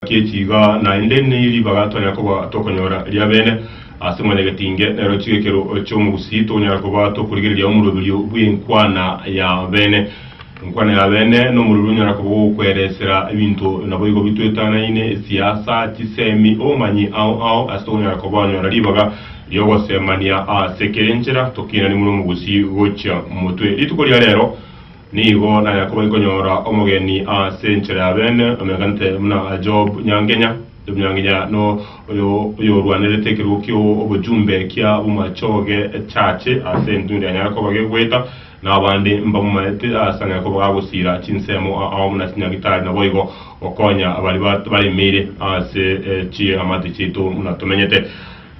Gechi iga naende neribaga twanyara koba tokonyora riabene ase mwanyagetinge, nero chigekerwa chi'omogusii tokonyara koba tokorigereria omoroberio bw'enkwana y'abene. Enkwana y'abene nomoroberio onyara koba ogokweresera ebinto naboigo bitoetanaine, esiasa, chisemi, obomanyi ao ao ase tokonyara kobanyora ribaga ri'ogosemania ase kera enchera tokiinani buna omogusii gochia motwe. Rituko ria rero. Nigo na Yakobo nkonyora omogeni ase enchera y'abeene, omeganete buna Job nyangenya. Job nyangenya no oyo oyorwanerete ekerogo ki'obojumbe kia bomachoge echache ase entundo yanyare koba gegoeta, na abande mbamomaete ase ang'e koba gagosiira chinsemo ao buna chinyagitari, naboigo gokonya baria baremeire ase chiamate chiaito buna tomenyete.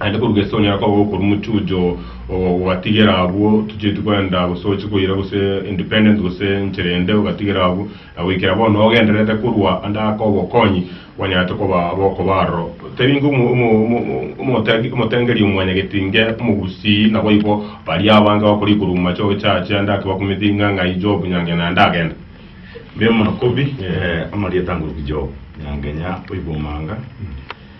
Naende korwa Gesoni akoba okorwa omochuncho ogatigera abwo tochieti kwenda gose oche koira gose independent gose enchera ende ogatigera abwo na goikera bono ogendererete korwa ande aka obokonyi banyarete koba bokoba aroro. Teri ingo omotengeri omwanyagetinge omogusii naboigo baria abange bakoria korwa amache ogechacha ande ake bakomethinga ng'ai Job nyange naende agende. Mbe monakobi amarieta nguru ki Job nyange nya oigwa omanga.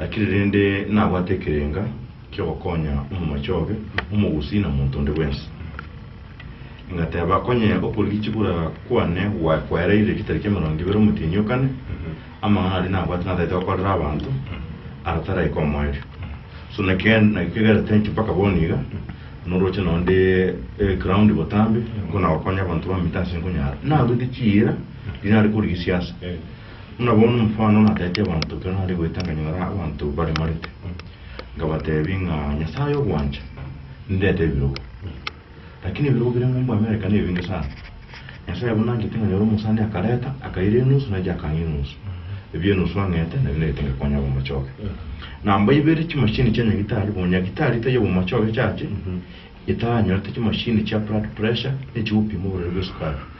Naki rende nabwate ekerenga ki'ogokonya omomache obe omogusii na monto onde bwensi. Ngateeba, Onye okorigia chibura kwane gwaye kwaeraire ritari ki'emerongo ebere omotienyi o kane, amang'ana aria nabwate natagete gokorera abanto, ara taraika omoerio. So naki kegerete inche mpaka bono iga, noroche nao nde ground botambe, nkonagokonya abanto bamite ase nkonyara. Narwete chiira riria nare korigia siasa. Buna bono omofano natete abanto ekero nare goeta nkanyora abanto baremarete, nkabatebia ng'a Nyasae ogwancha nindete ebirogo. Lakini ebirogo bire ng'umbu America nebinge sana. Nyasae buna angete nkanyora omosani akareta akaira enusu nainche akang'ia enusu. Ebi enusu ang'ete nabio nairete ngekonya obomochoge. Namba ibere chimashini chia nyagitari, bono nyagitari taiyo obomochoge echache, etaranyorete chimashini chia blood pressure ne echigopima oborwaire bw'esukari.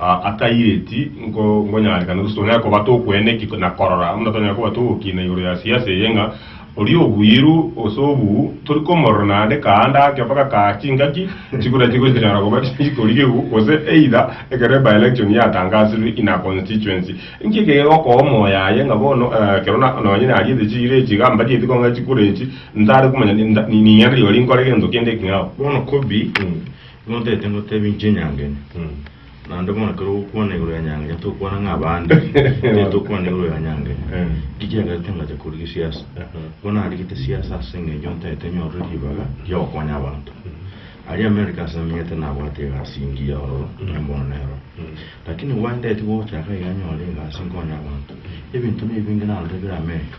Aa taireti nko nkonyarekana gose tonyare koba tokwene ki na korora, buna tonyare koba togokina igoro ya siasa eye ng'a oria obuiru gose obuu tori komorora naende kaanda ake mpaka kaa chingaki chikura chigochinyara koba chikorigigwa gose either ekero e by-election yatangasirwe in a constituency. Inki eke gegokoa omoyaye ng'a bono eh ekero na nonye nariete chiira echi iga mbarieti kong'ai chikura echi ntare komanya ni nda ni ning'ana rigo rinkore gento kende eking'ao. Bono Kobi, Motaete ngoteebia inche nyangenya, naende bono ekero ogokwana igoro ya nyangenya tokwana ng'a abande, motaete okwana igoro ya nyangenya. Ki kiagerete ngacha korigia esiasa? Nigo narigete esiasa ase eng'encho ntaete nyorwe ribaga ri'ogokonya abanto. Aria America ase namenyete nabwate egasi engiya ororo, onye mbono nero. Lakini gwaye ntaeti gocha iga nyore egasi nkonye abanto. Ebinto na ebinge narorire bire America.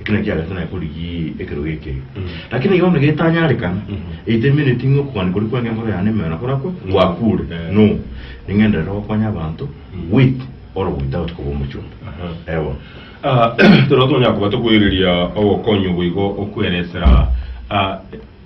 Eki nakio agachia naye korigia ekerogo ekeye. Lakini iga bono getanyarekana, eitemeneti ng'a okogania koria kweng'e enkoro yane nemeyo nakorakwe, gwakure. No, ning'enderere gokonya abanto with or without koba omochumba. Ewa. Ah, ekero tonyara koba tokoereria ogokonya oboigo okweresera ah,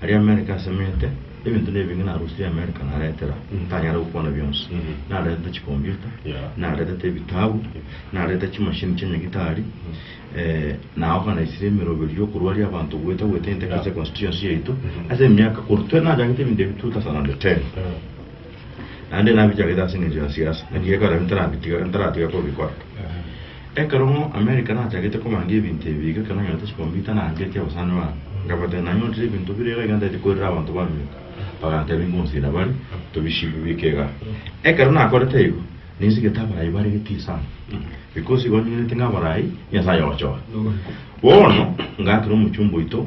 Aria Amerika asemete, ebinto nebinge narusirie Amerika naretera, ntanyare gokwana bionsi. Naretete chikombiuta, naretete ebitabu, narete chimashini chia nyagitari, na organisirie emeroberio y'okorwaria abanto goeta goeta inteka ase econstituency yaito ase emiaka korwa twe nachagete ebinto ebi 2010. naende nabichagete ase engencho ya siasa, naki ekero ebi ntarabitiga, ntaratiga kobikora. Ekero ng'o America nachagete kobanga ebinto ebi iga, ekero nanyorete chikompyuta naangetie abasani baane, nkabatebia nanyorire ebinto bire iga, iga ntaete koirera abanto bamenyete, bagantebia ngonsira bare, tobisibe bike igaa. Ekero nakorete igo, ninsigete abarai bare getii sana, because igo ninyorete ng'a abarai, Nyasaye ogochora. Bono, ngaakera omochumba oito.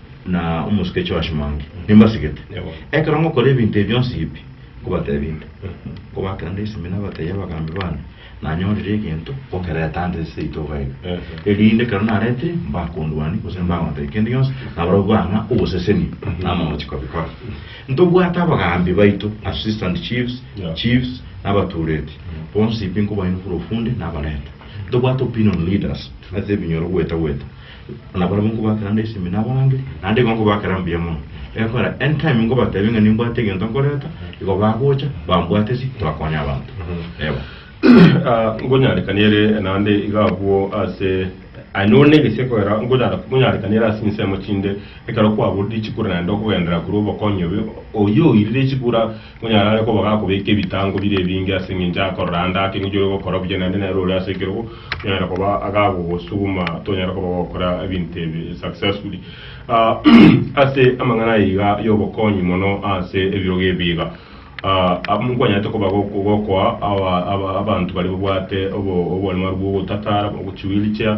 na omosuke Joash Mwangi, nimbasigete. Ekero ngokora ebinto ebi bionsi ebi nkobateebia inde, nkobakera nde esimina abataiya abagambi baane, nanyorire egento ngokereta ande ase itoga eye, erinde ekero naretire mbakondwanie gose mbagontebia kende gionsi, nabarobwo bang'a oboseseni na amagochi kobikora. Ntobwate abagambi baito, assistant chiefs, chiefs, na abatureti, bonsi pi nkobainokera ofunde nabarente. Ntobwate opinion leaders ase ebinyoro gweta-gweta. Na barabwo nkobakera nde isemi nabarangeri, naende igo nkobakera mbuya mono. Egekora entime nkobatebia ng'a nimbwate egento nkoreta, igo bagocha, bambwate ase torakoonya abanto. Ewa. Ah, nkonyarekania ere naende iga abwo ase aye nore negesie ekogera nkonyara nkonyarekania ere ase insemo chinde ekero kwaborire echikura naende okogenderera korwa obokonyi obe oyooirire echikura Monyara are koba gakobeka ebitango bire ebinge ase engencho akorora ande ake ng'incho ore gokora buya naende nere ore ase ekerogo onyare koba agagogosuguma tonyare koba gokora ebinto ebi successfully. Ase amang'ana aya iga y'obokonyi mono ase ebirogo ebi iga, nkwanyaete koba gokoa abanto baria babwate obonyamarwu bw'ogotatara, ogochi wheelchair,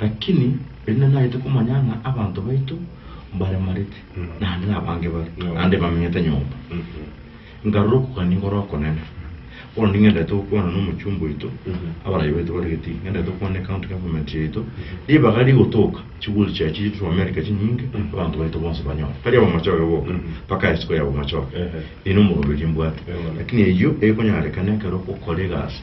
Lakini erinde naete komanya ng'a abanto baito mbaremarete, naende nabange bare, naende bamenyete nyomba, nkarora okogania kore okonene. Bono ning'endete gokwana n'omochumba oito, abarai baito bare Gitigi, ng'endete gokwana ne County Government yaito, ribaga rigotoka chiguri chiaye chichire korwa America chinyinge, abanto baito bonsi banyore. Tari abamachoge boka, mpaka isiko y'abamachoge, nigo omoroberio mbwate. Lakini eyio ekonyarekana ekero ogokora egasi.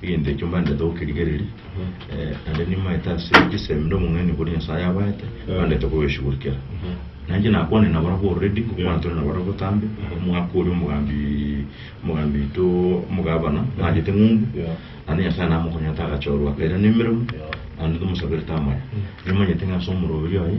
Egento ekio mbande togoke rigereri, naende nimaete ase chisemi nde omong'aini okoria Nyasaye abaete, mbandete kogeshugurikera. Nainche nakwane nabarabwo already, ngokwana tore nabarabwo botambe, omogaka oria omogambi, omogambi oito omogabana, narwete eng'umbu, naende Nyasaye namokonyete agachorwa akairana emeremo, naende tomosaberete amaya. Nimanyete ng'a ase omoroberi oye.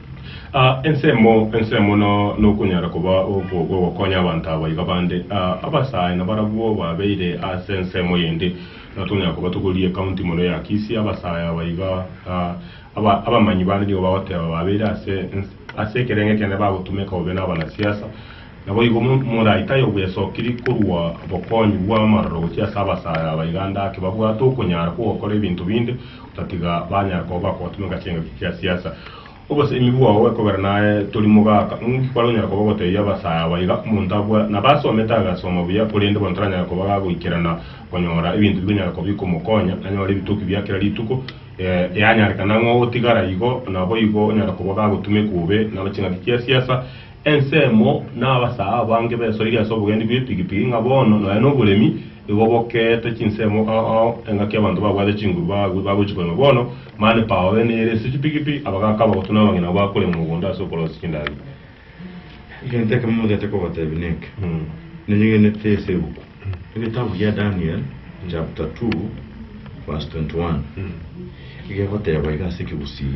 A Ensemo, ensemo no, nokonyara koba okwo kw'ogokonya abanto aba iga bande. A Abasae nabarabwo babeire ase ensemo eyende, na tonyara koba togorie ekaunti mono ya Kisii, abasae aba iga, a aba, abamanyi bande nigo bagoteba babeire ase ens, ase ekerenge kende bagotumeka bobe n'abanasiasa. Naboigo mo, moraito aye obwesokirie korwa bokonyi bw'amaroro gochia ase abasae aba iga ande ake babwate okonyara kw'ogokora ebinto binde, Tatiga banyare koba bakobatumeka chingaki chia siasa. Obosemi bwao bwekogera naye tori mogaka. Nki kware onyare koba ogotebia abasae aba iga, Omonto abua nabasomete agasoma buya, korende bono taranyare koba gagoikerana konyora ebinto bikonyara koba bikomokonya anyore ebitoki bia kera rituko? Eanyarekana ng'a ogotigara igo naboigo onyare koba gagotumekwa obe na chingaki chia siasa. Ensemo nabasae abange besoirie ase obogendi bw'epigipigi ng'a bono nonya noboremi. Nigo bokeete chinsemo ao ao, engaki y'abanto babwate chinguru baagwe bagochia korema bono, mani pao ene ere ase chipigipi, abagaaka abagotu na abang'ina nabo bakorema mogondo ase okorosia chindagera. Egento ekemo mogete kobateebia neke, Nanyeg'enete ase ebuku, egetabu gia Daniel, chapter 2 verse 21, egegoteeba iga ase ekegusii,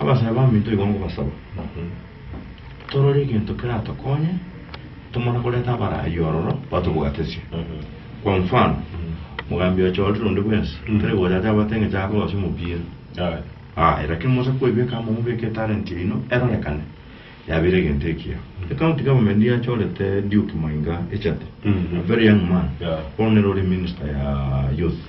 Abasae baminto igo ngobasaba, torore egento keratokonye tomana koreta abaraaia ororo batobogatesie. Kwa mfano, mogambi oye chorire onde bwensi, tari gocha ache abwate engecho akogosia omopira. Aye, lakini mosa koibeka amo mobeke etalent yaino erorekane, yabeire egento ekiya. Ecounty government yachorete Duke Mainga echate, a very young man, bono nere ore minister ya youth.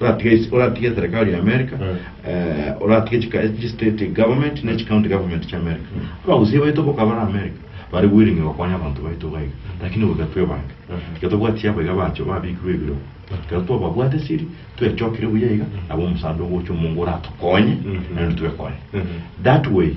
oratige isi, oratige eserekari ya America, Mm. eh, oratige chika- echi state government ne chi county government chia America. Abagusia baito boka bare America bare willing gokonya abanto baito iga iga, lakini goika twebange. Mhm. Iga tobwati abo iga bacho babikirwe ebiro. Iga twababwate siri, twechokire buya iga, nabo omusaadha ogocha omongo oratokonye, Mhm. naende twekonye. Mhm. That way,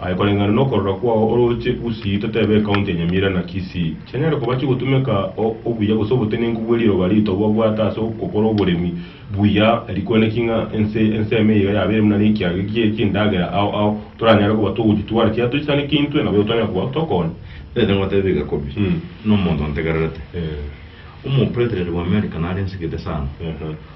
Aye koreng'ana nokorora kwao oroche Gusii totebe ecounty ya Nyamira na Kisii chianyare koba chigotumeka obuya gose obotenenku bwe riroba rito babwate ase ogokora oboremi buya rikweneki ng'a ense enseme iga yabeire buna nekiage gie chindagera ao ao toranyare koba togochitwara chiaye tochisaneke intwe nabo igo twanyare koba tokonya Rende ngotebe iga Kobi, nomonto ntegererete, omopresident bw'America nare nsigete sana.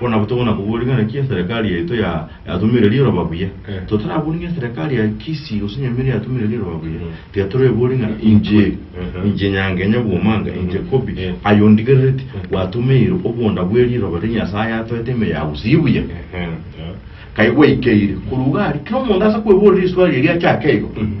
Bono abwo tokona koboria ng'a naki eserekari yaito ya, yatumire riroba buya. Eh. Totaraborie ng'a eserekari ya Kisii gose Nyamira yatumire riroba buya. Mm. Tiga toreborie ng'a inche, Aha. inche Nyangenya Bwomanga, inche Kobi, Eh. aye ondigerereti, Mm. gwatumeire obonda bwe riroba ri Nyasaye atoete ime ya gusii buya. Ehe. Kai gwaikeire. Korwa iga aria, kera omonto ase kweborera riswali eria achake igo. Mhm.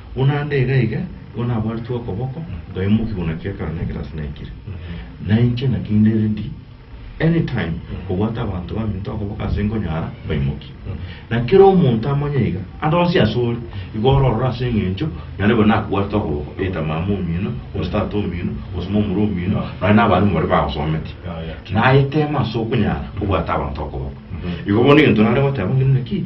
Buna nde igaiga, igo nabwaretwe okoboko, nkaiywa mokiguna ki'ekero na ekerasi naikire. Na inche naki inde ready any time kobwata abanto baminto okoboko ase nkonyara mbaimokie. Na kera omonto amanye iga, ande onsi ase ore, igo ororore ase eng'encho naende bono nakobwarete okoboko, either mama omino, gose tata omino, gose momura omino, nonya na abarimu baria bagosometie. Naye tema ase okonyara kobwata abanto okoboko. Igo bono egento nare goteba ng'ina naki.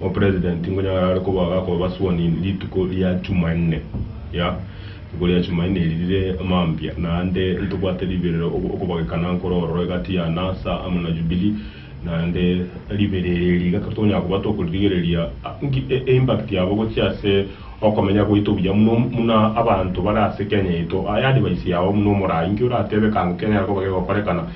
Opresident tingonyara are koba agakoba sworn in rituko ria Jumanne, ya, rituko ria Jumanne eri rire mambia, naende ntobwate riberero ok- okobagekana nkoro ororo egati ya Nasa amo na Jubilee, naende riberero eri riga kera tokonyara koba tokoririgereria a- nki e- e impact yabo gochia ase okomenya gwaito buya muno m- muna abanto bare ase Kenya yaito. Aya advice yao buna omorai, nki oratebe kago kenyare koba kegokorekana?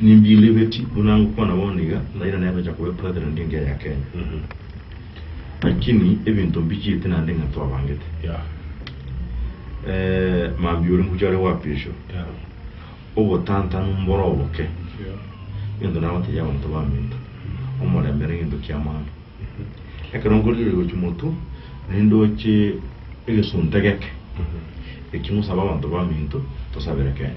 Nimbirigetie buna ngokwana bono iga, nairane abecha koba epresident engiya ya Kenya. Lakini ebinto mbichiete naende ng'a twabangete. Mambia oria ngocha are goapiswa, obotantanu mbore oboke, egento nagotebia abanto baminto, omorembe nere egento ki'amang'ana. Ekero nkorigereria gochia motwe, nindoche egesunte geke, eki ngosabe abanto baminto tosabere Kenya.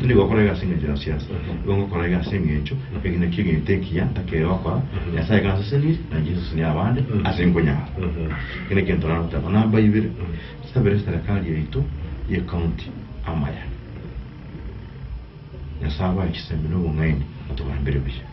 Tinigokora egasi engencho ya siasa, igo ngokora egasi engencho y'egenaki egento ekiya ntakeirie gokora, Nyasae gansesenirie, na inche nsesenie abande ase nkonyara. Eke nekiagera torara goteba, Namba ibere, nsabere serekari yaito ye county amaya. Nyasae abae chisemi na obong'aini, atobambere buya.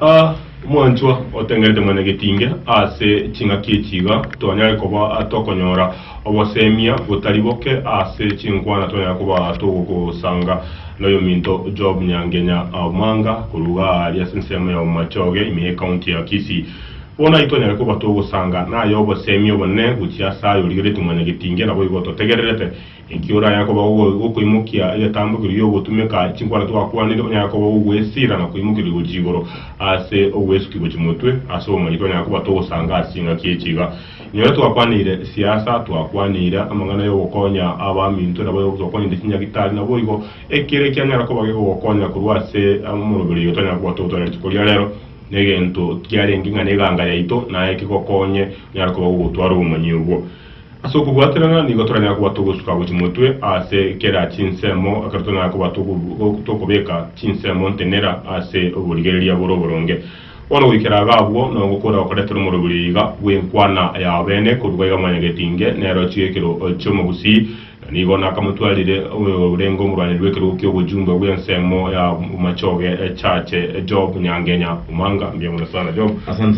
A Omwanchwa otengerete mwenye getinge ase ching'aki echi iga twanyare koba tokonyora obosemia botari boke ase chinkwana twanyare koba togosanga noyominto Job Nyangenya Omanga korwa iga aria ase ensemo ya Bomachoge ime ecounty ya Kisii. Bono aye twanyare koba togosanga naye obosemia obonene gochia ase aye origereti mwenye getinge naboigo totegererete. Ekio oraya koba gokoimokia egetambokero gi'ogotumeka chinkwana twakwanire, onyare koba ogwesira na koimokerwa gochia igoro ase ogwesukia gochia motwe ase obomanyete onyare koba togosanga ase chingaki echi iga. Nyore twakwanire siasa, twakwanire amang'ana y'ogokonya abaminto nabo twakwanire chinyagitari naboigo ekero ekianyara koba gegogokonya korwa ase omoroberi oyo tonyare koba togotwara rituko ria rero negento kiarenge ng'a neganga yaito naye kegokonye onyare koba gogotwara obomanyi obwo. Ase okobwaterana nigo toranyare koba togosuka gochia motwe ase kera chinsemo, ekero toranyare koba tokobeka chinsemo ntenera ase oborigereria bore oboronge. Bono goikera iga abwo nogokora okoretera omoroberio iga bw'enkwana yao bene, korwa gaiga mwanyaga getinge nero chigekero chi'omogusii, na nigo nakamotwarire orenge omorwaneri bw'ekerogo ki'obochunga bw'ensemo y'amachoge echache Job nyangenya. Omanga mbiang'ore sana Job.